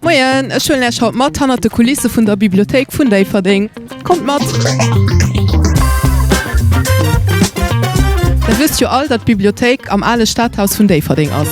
Moien, ech huelen Äech haut mat hannert de Kulisse vun der Bibliothéik vun Déifferdeng. Kommt mat! Der wësst jo all, datt d'Bibliothéik am ale Stadhaus vun Déifferdeng ass.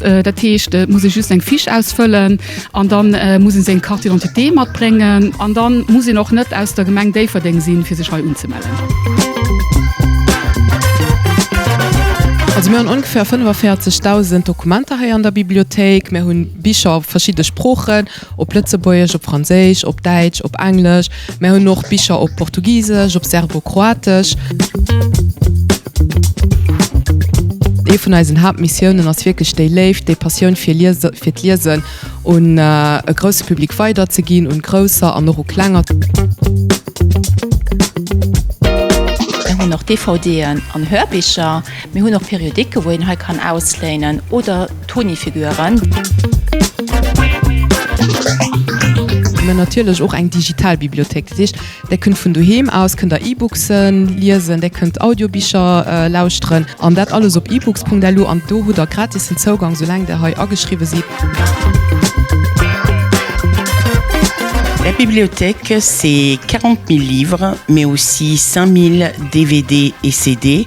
Dat heescht, et muss ee just eng Fiche ausfëllen an da muss ee seng Carte d'identité matbréngen. An da muss een och net aus der Gemeng Déifferdeng sinn, fir sech hei unzemellen. Also mir hunn ongeféier 45.000 Dokumenter hei an der Bibliothéik. Mir hu Bicher op verschidde Sproochen. Op Lëtzebuergesch, op Franséisch, op Däitsch, op Englesch. Mär hunn och Bicher op Portugisesch, op Serbokroatesch. Ee vun eisen Haaptmissiounen ass wierklech déi Léift, déi Passioun fir Liese, fir d'Liesen un e grousse Public weiderzeginn, un Grousser an och u Klenger. Mir hunn och DVDen an Hörbicher. Mir hunn och Periodiken, wou een hei kann ausléinen oder Toni-Figuren. Mä natierlech och eng digital Bibliothéik. Dat heescht, Där kënnt vun doheem aus kënnt Der E-Booksen liesen, Där kënnt Audiobicher lauschteren an dat alles op ebooks.lu. An do hutt Der gratissen Zougang, soulaang Der hei ageschriwwe sidd. La bibliothèque, c'est 40 000 livres, mais aussi 5 000 DVD et CD,